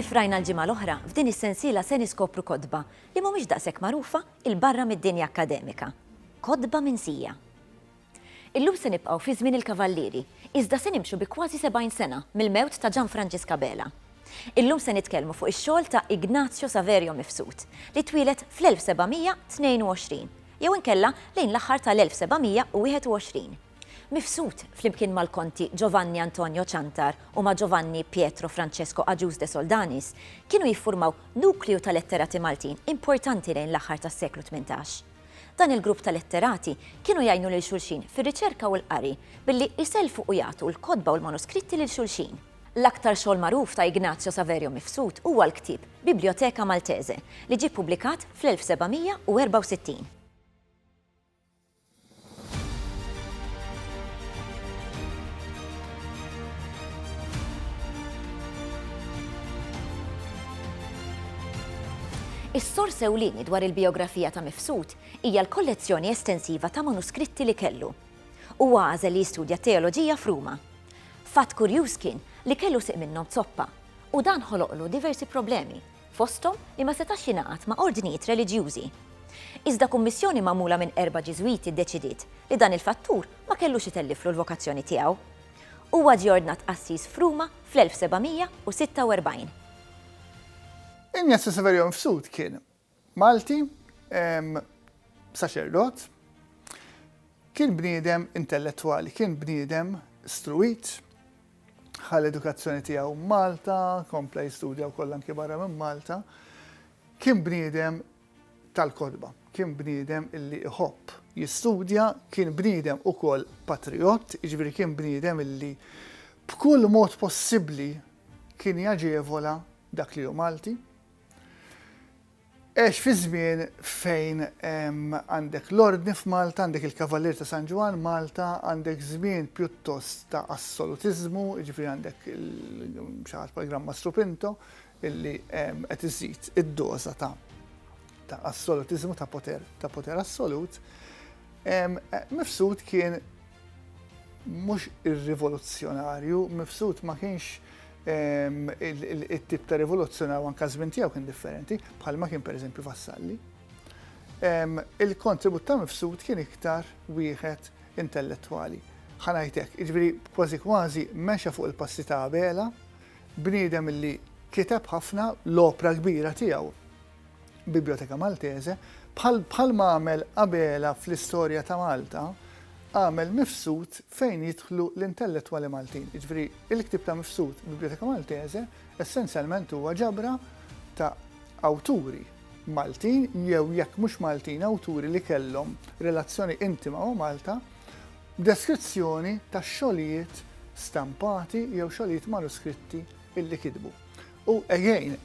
Kif rajna l-ġimgħa l-oħra, f'din is-sensiela se niskopru kotba li mhumiex daqshekk magħrufa 'l barra mid-dinja akkademika. Kotba minsija. Illum se nibqgħu fi żmien il-Kavallieri, iżda se nimxu bi kważi 70 sena mill-mewt ta' Gian Franġisk Abela. Illum se nitkellmu fuq ix-xogħol ta' Ignazio Saverio Mifsud, li twieled fl-1722, jew inkella lejn l-aħħar tal-1721. Mifsud, flimkien mal-Konti Giovanni Antonio Ciantar u ma' Giovanni Pietro Francesco Agius de Soldanis, kienu jiffurmaw nukleu ta' letterati Maltin importanti lejn l-aħħar tas-seklu tmintax. Dan il-grupp ta' letterati kienu jgħinu lil xulxin fir-riċerka u l-qari billi jsellfu u jagħtu l-kotba u l-manuskritti lil xulxin. L-aktar xogħol magħruf ta' Ignazio Saverio Mifsud huwa l-ktieb Bibliotheca Maltese, li ġie ppubblikat fl-1764. Is-sors ewlieni dwar il-bijografija ta' Mifsud hija l-kollezzjoni estensiva ta' manuskritti li kellu. Huwa għażel li jistudja t-teoloġija f'Ruma. Fatt kurjuż kien li kellu sieq minnhom zoppa, u dan ħoloqlu diversi problemi. fosthom li ma setax jingħaqad ma' ordnijiet reliġjużi. Iżda kummissjoni magħmula minn erba' Ġiżwiti ddeċidiet li dan il-fattur ma kellux itelliflu l-vokazzjoni tiegħu. Huwa ġie ordnat qassis f'Ruma fl-1746. Ignazio Severion Fsut kien Malti, saċerdot, kien bniedem intellettwali, kien bniedem struwit, Ħa l-edukazzjoni tiegħu Malta, kompla jistudja wkoll anki barra minn Malta. Kien bniedem tal-kotba, kien bniedem illi iħobb jistudja, kien bniedem ukoll patriott, jiġifieri kien bniedem illi b'kull mod possibbli kien jaġevola dak li hu Malti. Għex fi żmien fejn għandek l-Ordni f'Malta, għandek il-Kavalier ta' San Ġwann, Malta, għandek żmien pjuttost ta' assolutiżmu, jiġifieri għandek xi ħadd bħal Gran Mastru Pinto illi qed iżid id-doża ta' ta' assolutiżmu ta' poter ta' poter assolut, Mifsud kien mhux ir-rivoluzzjonarju, Mifsud ma kienx It-tip ta' rivoluzzjoni u anka żmien tiegħu kien differenti, bħalma kien pereżempju Vassalli. Il-kontribut ta' Mifsud kien iktar wieħed intellettwali. Ħa ngħidlek, jiġifieri kważi kważi mexa fuq il-passi ta' Abela, bniedem li kiteb ħafna, l-opra kbira tiegħu, Biblioteka Maltese, bħal bħalma għamel Abela fl-istorja ta' Malta, għamel Mifsud fejn jidħlu l-intellettwali Maltin. Jiġifieri, il-ktieb ta' Mifsud, Biblioteka Maltese, essenzjalment huwa ġabra ta' awturi Maltin jew jekk mhux Maltin awturi li kellhom relazzjoni intima ma' Malta, deskrizzjoni ta' xogħlijiet stampati jew xogħlijiet manuskritti illi kitbu. U again,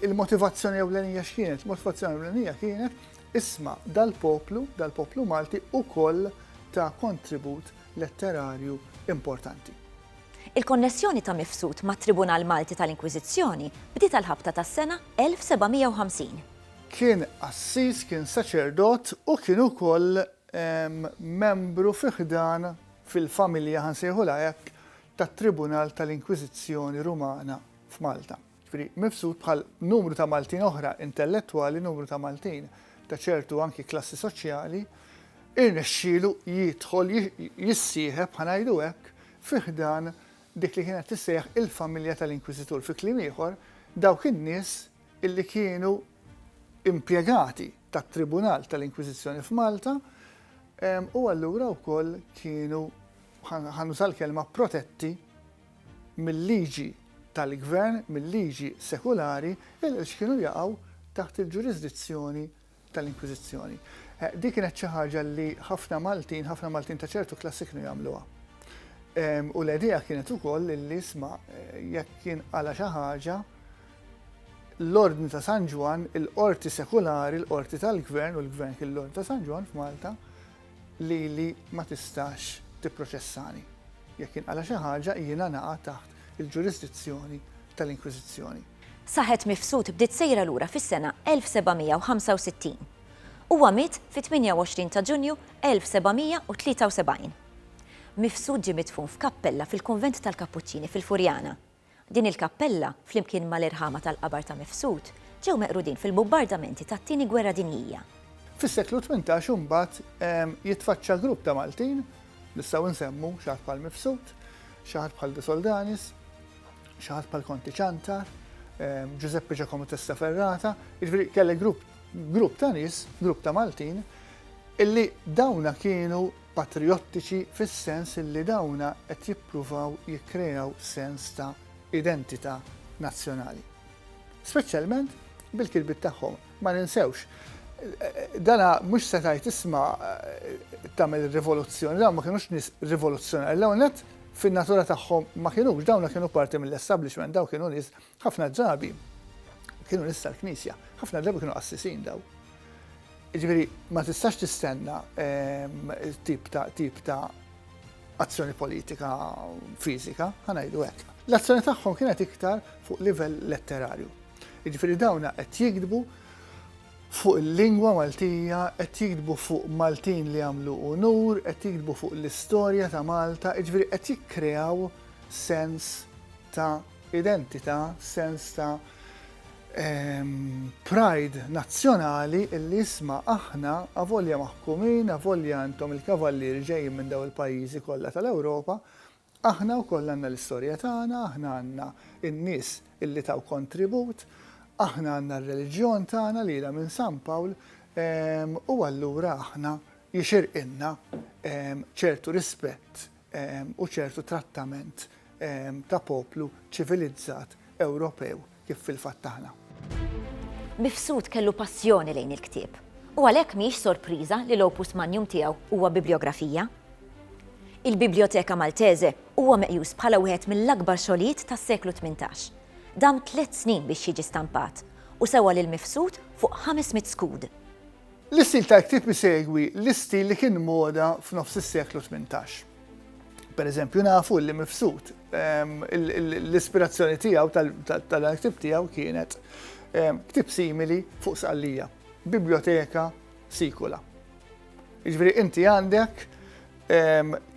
il-motivazzjoni ewlenija x'kienet? Il-motivazzjoni ewlenija kienet isma' dal-poplu, dal-poplu Malti ukoll ta' kontribut letterarju importanti. Il-konnessjoni ta' Mifsud mat-Tribunal Malti tal-Inkwiżizzjoni bdiet għall-ħabta tas-sena 1750. Kien qassis, kien saċerdot u kien ukoll membru fi ħdan, fil-familja ħa nsejħulha hekk, tat-Tribunal tal-Inkwiżizzjoni Rumana f'Malta. Jiġifieri mifsud bħal numru ta' Maltin oħra intellettwali, numru ta' Maltin ta' ċertu anki klassi soċjali, irnexxielu jidħol, jissieħeb, ħa ngħidu hekk, fi ħdan dik li kienet tissejjaħ il-familja tal-Inkwiżitur. Fi kliem ieħor, dawk in-nies illi kienu impjegati tat-Tribunal tal-Inkwiżizzjoni f'Malta u allura wkoll kienu ħanuża l-kelma protetti mill-liġi tal-gvern, mill-liġi sekulari, il kienu jaqgħu taħt il-ġurisdizzjoni tal-Inkwiżizzjoni. Din kienet xi ħaġa li ħafna Maltin, ħafna Maltin ta' ċertu klassi kienu jagħmluha. U l-idea kienet ukoll li isma' jekk kien għala xi ħaġa l-Ordni ta' San Ġwan, il-qorti sekulari, l-qorti tal-gvern u l-gvern kien l-Ordni ta' San Ġwan f'Malta, lili ma tistax tipproċessani. Jekk jinqala' xi ħaġa, jiena naqa' taħt il-ġurisdizzjoni tal-Inkwiżizzjoni. Saħet Mifsud bdiet sejra lura fis-sena 1765. Huwa miet fit-28 ta' Ġunju 1773. Mifsud ġie midfun f'kappella fil-kunvent tal-Kappuċċini fil-Furjana. Din il-kappella, flimkien mal-irħama tal-qabar ta' Mifsud, ġew meqrudin fil-bumbardamenti tat-Tieni Gwerra Dinjija. Fis-seklu tmintax imbagħad jitfaċċa grupp ta' Maltin, nistgħu nsemmu xi ħadd bħal Mifsud, xi ħadd bħal De Soldanis, xi ħadd bħal Konti Ciantar, Ġużeppi Ġakomu Testa Ferrata, jiġifieri kellek grupp ta' nies, grupp ta' Maltin, illi dawna kienu, Patrijottiċi fis-sens li dawna qed jippruvaw jikkreaw sens ta' identità nazzjonali. Speċjalment bil-kitbiet tagħhom. Ma ninsewx, dana mhux se tgħid isma' tagħmel ir-rivoluzzjoni, dawn ma kinux nies rivoluzzjonari. L-ewwel nett fin-natura tagħhom ma kinux, dawna kienu parti mill-establishment, dawn kienu nies Ħafna drabi kienu nista l-Knisja, ħafna drabi kienu qassisin daw. Ġifieri ma tistax tistenna ehm, tip ta' tip ta' azzjoni politika fizika, ħanajdu hekk. L-azzjoni tagħhom kienet iktar fuq livell letterarju. Ġifieri dawna qed jikdbu fuq il-lingwa Maltija, qed jikdbu fuq Maltin li għamlu unur, qed jikdbu fuq l-istorja ta' Malta, ġifieri qed jikkreaw sens ta' identità, sens ta' pride nazzjonali illi isma' aħna, avolja maħkumin, avolja intom il-kavallieri ġejjin minn dawn il-pajjiżi kollha tal-Ewropa, aħna wkoll għandna l-istorja tagħna, aħna għandna n-nies illi taw kontribut, aħna għandna r-reliġjon tagħna li ilha minn San Pawl u allura aħna jixirqilna ċertu rispett u ċertu trattament ta' poplu ċivilizzat Ewropew kif fil-fatt aħna. Mifsud kellu passjoni lejn il-ktieb u għalhekk mhijiex sorpriża li l-opus magnum tiegħu huwa bibliografija. Il-Bibliotheca Maltese huwa meqjus bħala wieħed mill-akbar xogħlijiet tas-seklu tmintax. Dam tliet snin biex jiġi stampat u sewa lil Mifsud fuq ħames mitt skud. L-istil tal-ktieb isegwi l-istil li kien moda f'nofs is-seklu tmintax. Pereżempju nafu li Mifsud l-ispirazzjoni tiegħu tal-dan il-ktieb tiegħu kienet ktieb simili fuq Sqallija, biblioteka sikula. Jiġifieri inti għandek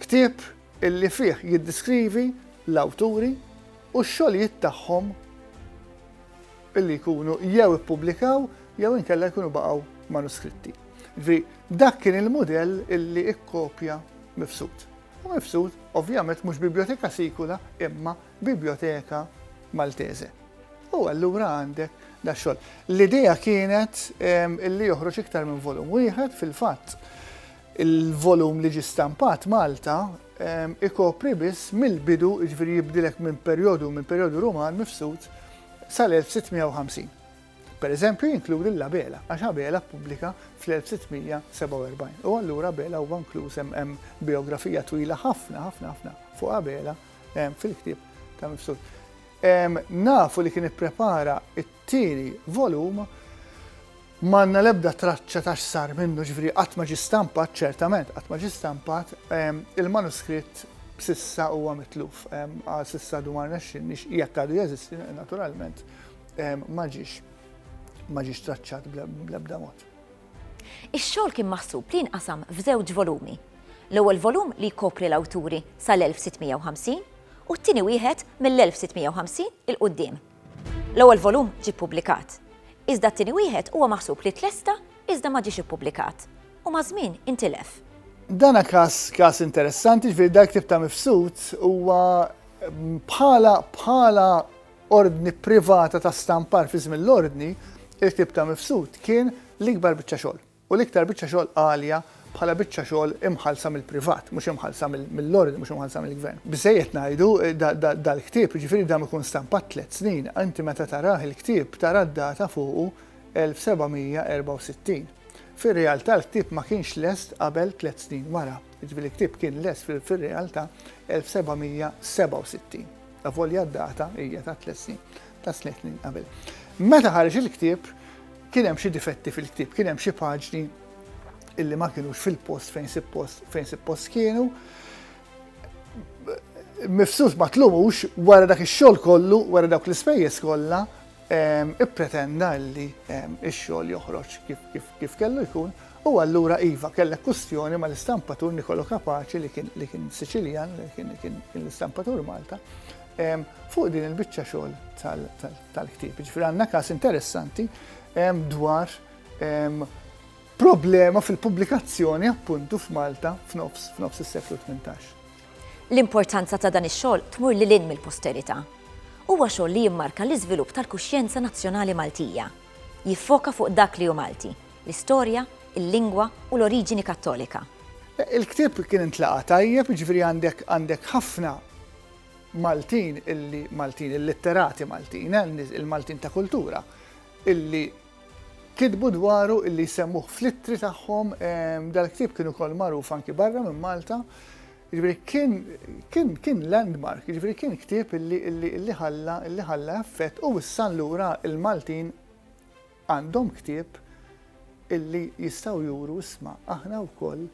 ktieb illi fih jiddiskrivi l-awturi u x-xogħlijiet tagħhom. Billi jkunu jew ippubblikaw jew inkella jkunu baqgħu manuskritti. Ġifieri dak kien il-mudell illi ikkopja Mifsud. U Mifsud ovvjament mhux biblioteka sikula imma biblioteka Maltese. U allura għandek da xogħol. L-idea kienet ehm, illi joħroġ iktar minn volum wieħed fil-fatt il-volum li ġi stampat Malta ehm, ikopri biss mill-bidu, ġviri jibdilek minn perjodu minn perjodu Ruman mifsud sal-1650. Pereżempju jinkludi l-Abela, għax Abela ppubblika fl-1647, u allura Abela huwa inkluż hemm bijografija twila ħafna, ħafna, ħafna fuq Abela fil-ktieb ta' Mifsud. Nafu li kien ipprepara t-tieni volum M'għandna l-ebda traċċa ta' x'sar minnu, ġifieri qatt ma ġie stampat, ċertament qatt ma ġie stampat, il-manuskritt s'issa huwa mitluf, għal s'issa għadu ma rnexxinniex, jekk għadu jeżisti naturalment, ma ġiex ma ġiex traċċat bl-ebda mod. Ix-xogħol kien maħsub li jinqasam f'żewġ volumi. L-ewwel volum li jkopri l-awturi sal-1650 u t-tieni wieħed mill-1650 'il quddiem. L-ewwel volum ġie ppubblikat, iżda t-tieni wieħed huwa maħsub li tlesta iżda ma ġiex ippubblikat u maż-żmien intilef. Dan każ każ interessanti, jiġifieri dan il-ktieb ta' Mifsud huwa bħala bħala ordni privata ta' stampar fi żmien l-ordni, il-ktieb ta' Mifsud kien l-ikbar biċċa xogħol. U l-iktar biċċa xogħol għalja bħala biċċa xogħol imħallsa mill-privat, mhux imħallsa mill-Ordni, mhux imħallsa mill-Gvern. Biżżejjed ngħidu, dal-ktieb, jiġifieri dam ikun stampat tliet snin, inti meta tarah il-ktieb tara d-data fuqu 1764. Fir-realtà l-ktieb ma kienx lest qabel tliet snin wara, jiġifieri l-ktieb kien lest fir-realtà 1767, avolja d-data hija ta' tliet snin, ta' tliet snin qabel. Meta ħareġ il-ktieb, Kien hemm xi difetti fil-ktieb, kien hemm xi paġni illi ma kienux fil-post fejn suppost fejn suppost kienu. Mifsus ma tlumux wara dak ix-xogħol kollu, wara dawk l-ispejjeż kollha, ippretenda li x-xogħol joħroġ kif kellu jkun u allura iva kellek kustjoni ma l-istampatur Nikolo Kapaċi li kien li kien Siċiljan, li kien l-istampatur Malta, fuq din il-biċċa xogħol tal tal-ktieb. Ġifieri għandna każ interessanti dwar problema fil-pubblikazzjoni appuntu f'Malta f'nofs f'nofs is-seklu 18. L-importanza ta' dan ix-xogħol tmur lil hinn mill-posterità. Huwa xogħol li jimmarka l-iżvilupp tal-kuxjenza nazzjonali Maltija. Jiffoka fuq dak li hu Malti, l-istorja, il-lingwa u l-oriġini Kattolika. Il-ktieb kien intlaqa' tajjeb, jiġifieri għandek għandek ħafna Maltin illi Maltin, il-litterati Maltin, il-Maltin ta' kultura, illi kitbu dwaru illi jsemmuh fl-ittri tagħhom dal-ktieb kienu kol magħruf anki barra minn Malta. Ġifieri kien kien kien landmark, ġifieri kien ktieb illi illi illi ħalla illi ħalla effett u issa allura il-Maltin għandhom ktieb illi jistgħu juru isma' aħna wkoll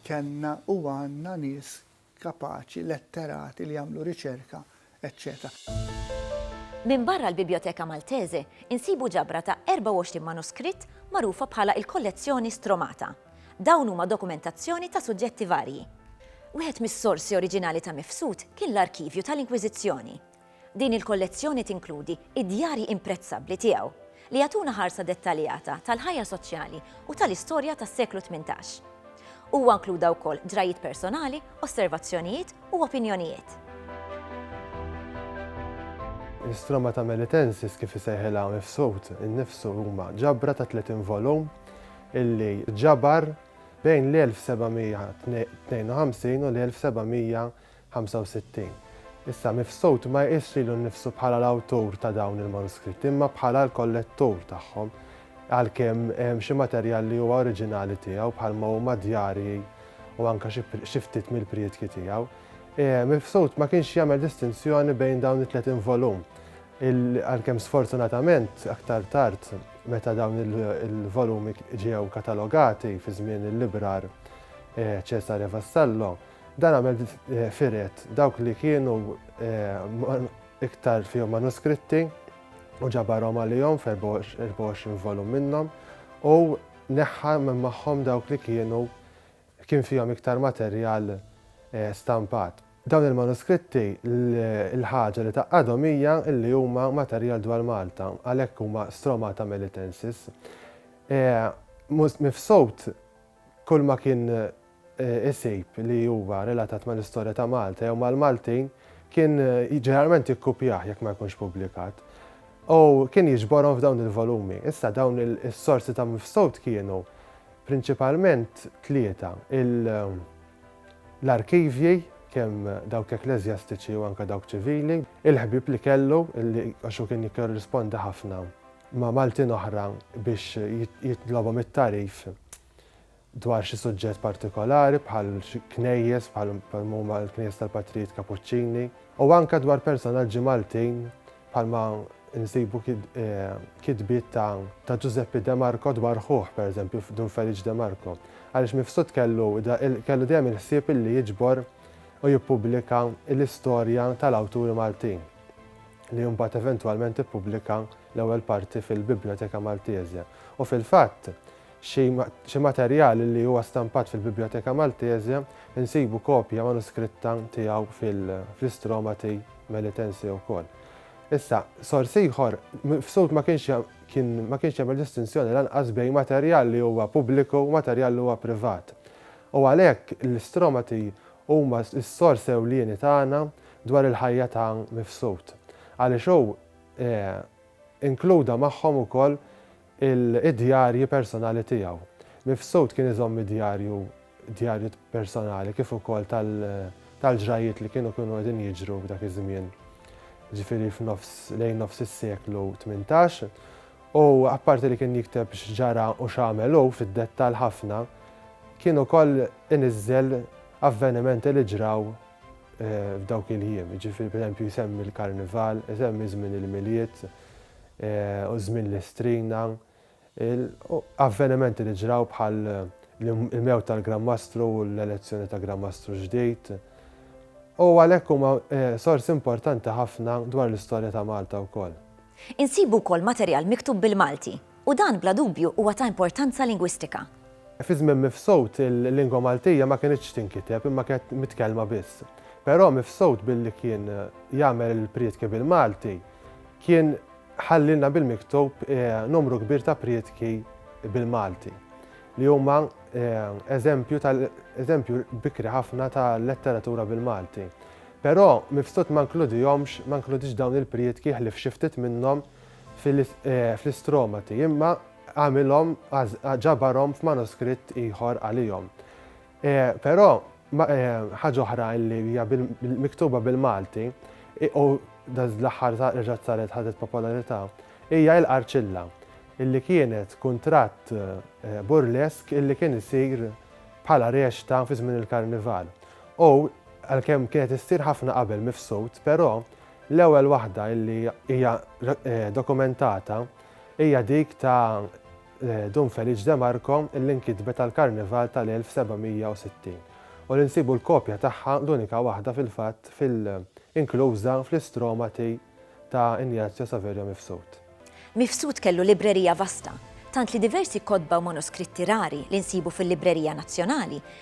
kellna u għandna nies kapaċi, letterati li jagħmlu riċerka, eċċetera. Minbarra l-Bibliotheca Maltese, insibu ġabra ta' 24 manuskritt magħrufa bħala il-Kollezzjoni Stromata. Dawn huma dokumentazzjoni ta' suġġetti varji. Wieħed mis-sorsi oriġinali ta' Mifsud kien l-arkivju tal-Inkwiżizzjoni, Din il-kollezzjoni tinkludi d-djarji imprezzabbli tiegħu, li jagħtuna ħarsa dettaljata tal-ħajja soċjali u tal-istorja tas-seklu tmintax. Huwa inkluda wkoll drajiet personali, osservazzjonijiet u opinjonijiet. L-Istromata Melitensis, kif isejħilha Mifsud innifsu, huma ġabra ta' 30 volum illi ġabar bejn l-1752 u l-1763. 65 Issa, Mifsud ma jqisx lilu nnifsu bħala l-awtur ta' dawn il-manuskritti, imma bħala l-kollettur tagħhom, għalkemm hemm xi materjal li huwa oriġinali tiegħu, bħalma huma djarji u anke xi ftit mill-priedki tiegħu. Mifsud ma kienx jagħmel distinzjoni bejn dawn it-30 volum, għalkemm sfortunatament aktar tard meta dawn il-volumi ġew katalogati fi żmien il-librar Cesare Vassallo, Dan għamel firet dawk li kienu iktar fihom manuskritti u ġabarhom għalihom f'24 volum minnhom u neħħa minn magħhom dawk li kienu kien fihom iktar materjal stampat. Dawn il-manuskritti l-ħaġa li tgħaqqadhom hija li huma materjal dwar Malta, għalhekk huma Stromata Melitensis. Mifsud kulma kien isib li huwa relatat mal-istorja ta' Malta jew mal-Maltin kien ġeneralment jikkupjah jekk ma jkunx pubblikat, u kien jiġborhom f'dawn il-volumi. Issa dawn is-sorsi ta' Mifsud kienu prinċipalment tlieta, l-arkivji, kemm dawk ekkleżjastiċi u anke dawk ċivili, il-ħbieb li kellu, għax hu kien jikkorrispondi ħafna ma' Maltin oħra biex jitlobhom it-tagħrif, dwar xi suġġett partikolari bħal xi knejjes bħal huma l-knejjes tal-Patrijiet Kapuċċini u anke dwar personaġġi Maltin bħalma nsibu kitbiet ta' Ġużeppi De Marco dwar ħuh pereżempju Dun Feliċ De Marco għaliex Mifsud kellu kellu dejjem il-ħsieb illi jiġbor u jippubblika l-istorja tal-awturi Maltin li mbagħad eventwalment ippubblika l-ewwel parti fil-Biblioteka Maltese u fil-fatt Xi materjal li huwa stampat fil-Biblioteka Maltese insibu kopja manuskritta tiegħu fl-Istromati Melitense wkoll. Issa, sors ieħor, Mifsud ma kienx kien ma kienx jagħmel distinzjoni lanqas bejn materjal li huwa pubbliku u materjal li huwa privat. U għalhekk l-Istromati huma s-sors ewlieni tagħna dwar il-ħajja ta' Mifsud. Għaliex hu inkluda magħhom ukoll il-djarji personali tiegħu. Mifsud kien iżomm id-djarju djarju personali kif ukoll tal-ġrajjiet li kienu kienu qegħdin jiġru f'dak iż-żmien, ġifieri f'nofs lejn nofs is-seklu tmintax, u apparti li kien jikteb x'ġara u x'għamel hu fid-dettall ħafna, kien ukoll iniżżel avvenimenti li ġraw f'dawk il-jiem, jiġifieri pereżempju jsemmi l-Karnival, isemmi żmien il-Milied, u żmien li strina, avvenimenti li ġraw bħal il-mewt tal-Gran Mastru u l-elezzjoni ta' Gran Mastru ġdid, u għalhekk huma sors importanti ħafna dwar l-istorja ta' Malta wkoll. Insibu wkoll materjal miktub bil-Malti, u dan bla dubju huwa ta' importanza lingwistika. Fi żmien Mifsud il-lingwa Maltija ma kinitx tinkiteb imma kienet mitkellma biss. Però Mifsud billi kien jagħmel il-prietki bil-Malti, Kien ħallilna bil-miktub numru kbir ta' prietki bil-Malti li huma eżempju tal-eżempju bikri ħafna ta' letteratura bil-Malti. Però mifsud ma nkludihomx, ma nkludix dawn il-prietki ħlif xi ftit minnhom fl-istromati, imma għamilhom ġabarhom f'manuskritt ieħor għalihom. Però Ħaġa oħra li hija miktuba bil-Malti u dal-aħħar reġgħet saret ħadet popolarità hija il-Qarċilla, li kienet kuntratt burlesk li kien isir bħala rexta fi żmien il-Karnival. U għalkemm kienet issir ħafna qabel mifsud, però l-ewwel waħda li hija dokumentata hija dik ta' Dun Feliċ De Marco li nkitbet għall-Karnival tal-1760 u li nsibu l-kopja tagħha, l-unika waħda fil-fatt, fil inkluża fl-Istromati ta' Ignazio Saverio Mifsud. Mifsud kellu librerija vasta, tant li diversi kotba u manuskritti rari li nsibu fil-Librerija Nazzjonali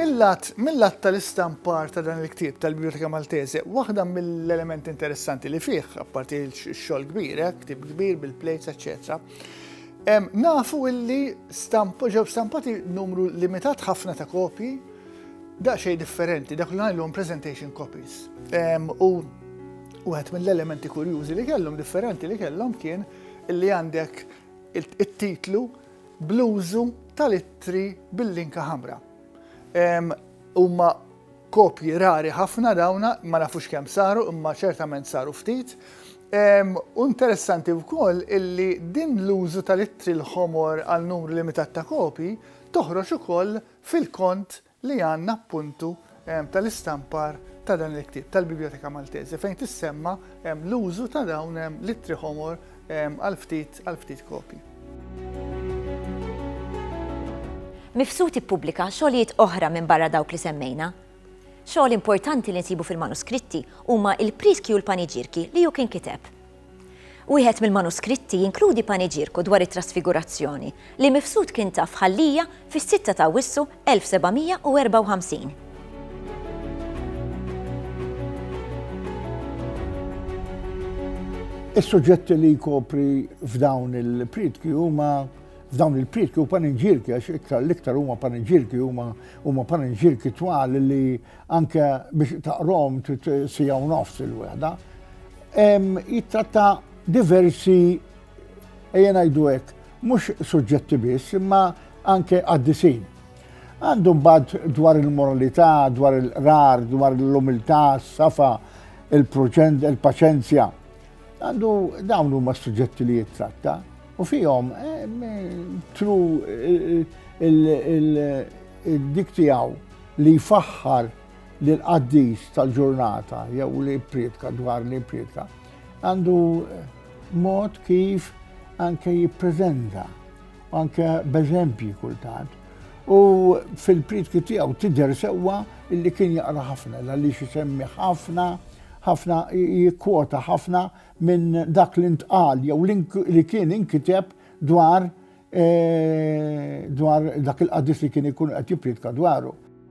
Mil-lat mil-lat tal-istampar ta' dan il-ktieb tal-Biblioteca Maltese, waħda mill-elementi interessanti li fih, apparti x-xogħol kbir, eh, ktieb kbir bil-plejts, eċċetera, em, nafu illi stamp, ġew stampati numru limitat ħafna ta' kopji, daqsxejn differenti, dak li ngħidlhom presentation copies. Em, u wieħed mill-elementi kurjużi li kellhom differenti li kellhom kien illi għandek it-titlu bl-użu tal-ittri bil-linka ħamra. Huma kopji rari ħafna dawna, ma nafux kemm saru, imma ċertament saru ftit. U interessanti wkoll illi din l-użu tal-ittri l-ħomor għal numru limitat ta' kopji toħroġ ukoll fil-kont li għandna appuntu tal-istampar ta' dan il-ktieb tal-Biblioteka Maltese fejn tissemma l-użu ta' dawn l-ittri ħomor għal ftit għal ftit kopji. Mifsud ippubblika xogħlijiet oħra minbarra dawk li semmejna. Xogħol importanti li nsibu fil-manuskritti huma il-Priskji u l-Paniġirki li hu kien kiteb. Wieħed mill-manuskritti jinkludi paniġierku dwar it-Trasfigurazzjoni, li Mifsud kien taf ħallija fis-sitta ta' Awwissu 1754. Is-suġġetti li jkopri f'dawn il-prietki huma f'dawn il-prietki u paniġirki, għax iktar l-iktar huma paniġirki, huma paniġirki twal li anke biex taqrom sija u nofs il-wehda. Jittratta diversi ejja ngħidu hekk, mhux suġġetti biss, imma anke għaddisin. Għandu mbagħad dwar il-moralità, dwar il-qrar, dwar l-umiltà, s-safa, il-paċenzja. Għandu dawn huma suġġetti li jittratta u fihom tru dik tiegħu li jfaħħar li l-qaddis tal-ġurnata jew li jipprietka dwar li jipprietka għandu mod kif anke jippreżenta anke b'eżempji kultant. U fil-prietki tiegħu tidher sewwa illi kien jaqra ħafna għaliex isemmi ħafna ħafna jikkwota ħafna minn dak li ntqal jew li kien inkiteb dwar eh, dwar dak il-qaddis li kien ikun qed jipprietka dwaru.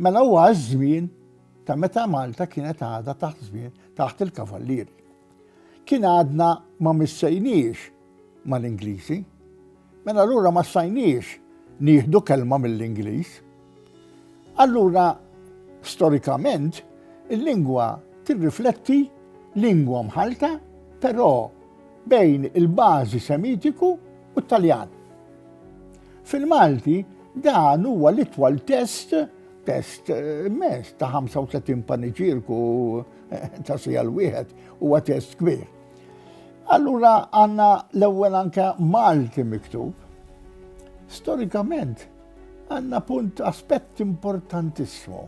Mela huwa ż-żmien ta' meta Malta kienet għadha taħt żmien taħt il-Kavallieri. Kien għadna ma missejniex mal-Ingliżi, mela allura ma stajniex nieħdu kelma mill-Ingliż. Allura storikament il-lingwa tirrifletti lingwa mħalta, però bejn il-bażi Semitiku u t-Taljan. Fil-Malti, dan huwa l-itwal test test immens ta' 35 paniġierku ta' sija l-wieħed huwa test kbir. Allura għandna l-ewwel anke Malti miktub. Storikament għandna punt aspett importantissimu.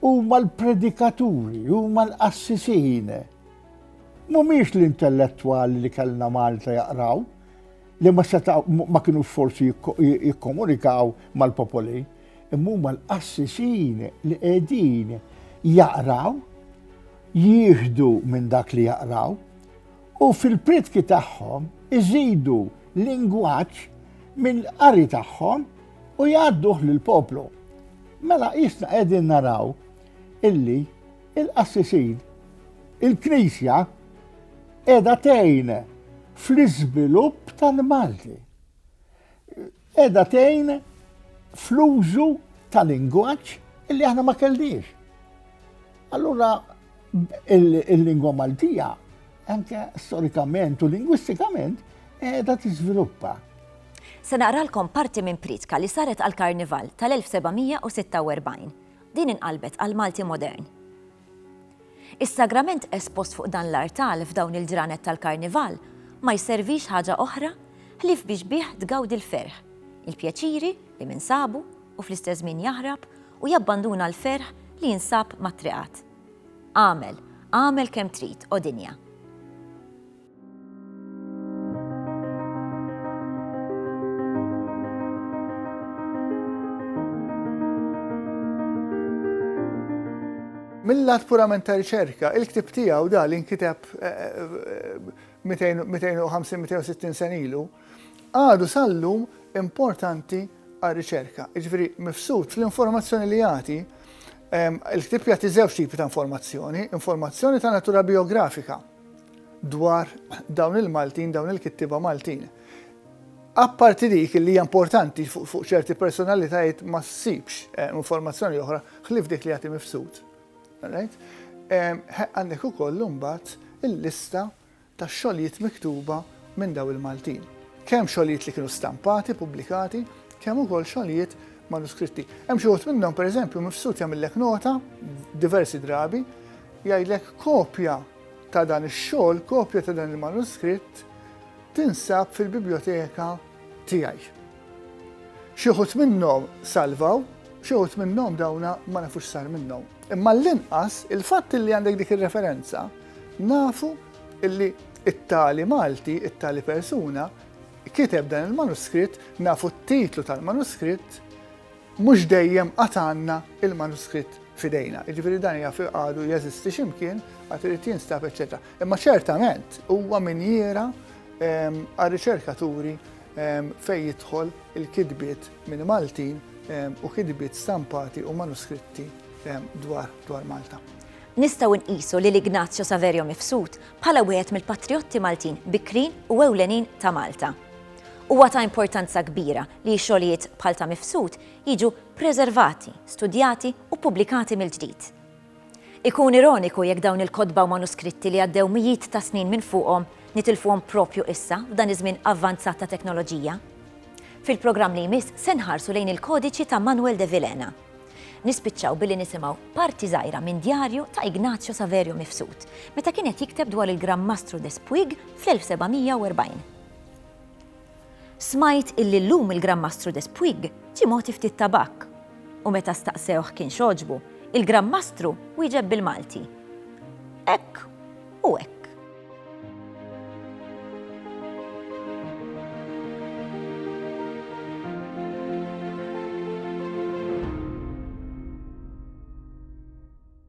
Huma l-predikaturi, huma l-qassisin Mhumiex l-intellettwali li kellna Malta jaqraw li ma seta' ma kienu forsi jikkomunikaw mal-popoli, imma huma l-qassisin li qegħdin jaqraw, jieħdu minn dak li jaqraw u fil-pritki tagħhom iżidu lingwaġġ mill-qari tagħhom u jgħadduh lill-poplu. Mela qisna qegħdin naraw illi Il-qassisin, il-Knisja qiegħda tgħin fl-iżvilupp tal-Malti. Qiegħda tgħin fl-użu tal-lingwaġġ illi aħna ma kellniex. Allura il-lingwa Maltija anke storikament u lingwistikament qiegħda tiżviluppa. Se naqralkom parti minn pritka li saret għal-Karnival tal-1746. Din inqalbet għal Malti modern. Is-sagrament espost fuq dan l-artal f'dawn il-ġranet tal-Karnival ma jservix ħaġa oħra ħlief biex bih tgawdi l-ferħ, il-pjaċiri li min sabu u fl-istess żmien jaħrab u jabbanduna l-ferħ li jinsab mat-triqat. Agħmel, agħmel kemm trid, o dinja! Mill-lat purament ta' riċerka, il-ktib tiegħu da li nkiteb 250-260 sen ilu, għadu sallum importanti għal riċerka. Ġifieri mifsud fl-informazzjoni li jagħti il-ktib jagħti żewġ tipi ta' informazzjoni, informazzjoni ta' natura biografika dwar dawn il-Maltin, dawn il-kittiba Maltin. Apparti dik li hija importanti fuq ċerti personalitajiet ma ssibx eh, informazzjoni oħra ħlif dik li jagħti mifsud. Eh, għandek ukoll imbagħad il-lista ta' xogħlijiet miktuba minn daw il-Maltin. Kemm xogħlijiet li kienu stampati, pubblikati, kemm ukoll xogħlijiet manuskritti. Hemm xi minnhom pereżempju mifsud jagħmillek nota diversi drabi Jgħidlek kopja ta' dan ix-xogħol, kopja ta' dan il-manuskritt tinsab fil-bibljoteka tiegħi. Xi wħud minnhom salvaw, xi wħud minnhom dawna ma nafu x'sar minnhom. Imma għall-inqas il-fatt li għandek dik ir-referenza nafu illi it-tali Malti, it-tali persuna kiteb dan il-manuskritt, nafu t-titlu tal-manuskritt, Mhux dejjem għad għandna l-manuskritt f'idejna, jiġifieri dan jaf għadu jeżisti xi mkien, għad irid jinstab, eċċetera. Imma ċertament huwa minjiera ehm, għar-riċerkaturi ehm, fejn jidħol il-kitbiet minn Maltin ehm, u kitbiet stampati u manuskritti dwar dwar Malta. Nistgħu nqisu li l-Ignazio Saverio Mifsud bħala wieħed mill-patriotti Maltin bikrin u ewlenin ta' Malta. Huwa ta' importanza kbira li xogħlijiet bħal ta' Mifsud jiġu preservati, studjati u ppubblikati mill-ġdid. Ikun ironiku jekk dawn il-kotba u manuskritti li għaddew mijiet ta' snin minn fuqhom nitilfuhom propju issa f'dan iż-żmien avvanzat ta' teknoloġija. Fil-programm li jmiss se nħarsu lejn il-kodiċi ta' Manuel de Vilhena. Nispiċċaw billi nisimgħu parti żgħira minn djarju ta' Ignazio Saverio Mifsud meta kien qed jikteb dwar il-Gran Mastru des Puig fl-1740. Smajt illi llum il-Gran Mastru des Puig ġie mogħti ftit tabakk. U meta staqsewh kien x'għoġbu, il-Gran Mastru wieġeb bil-Malti. Hekk u hekk.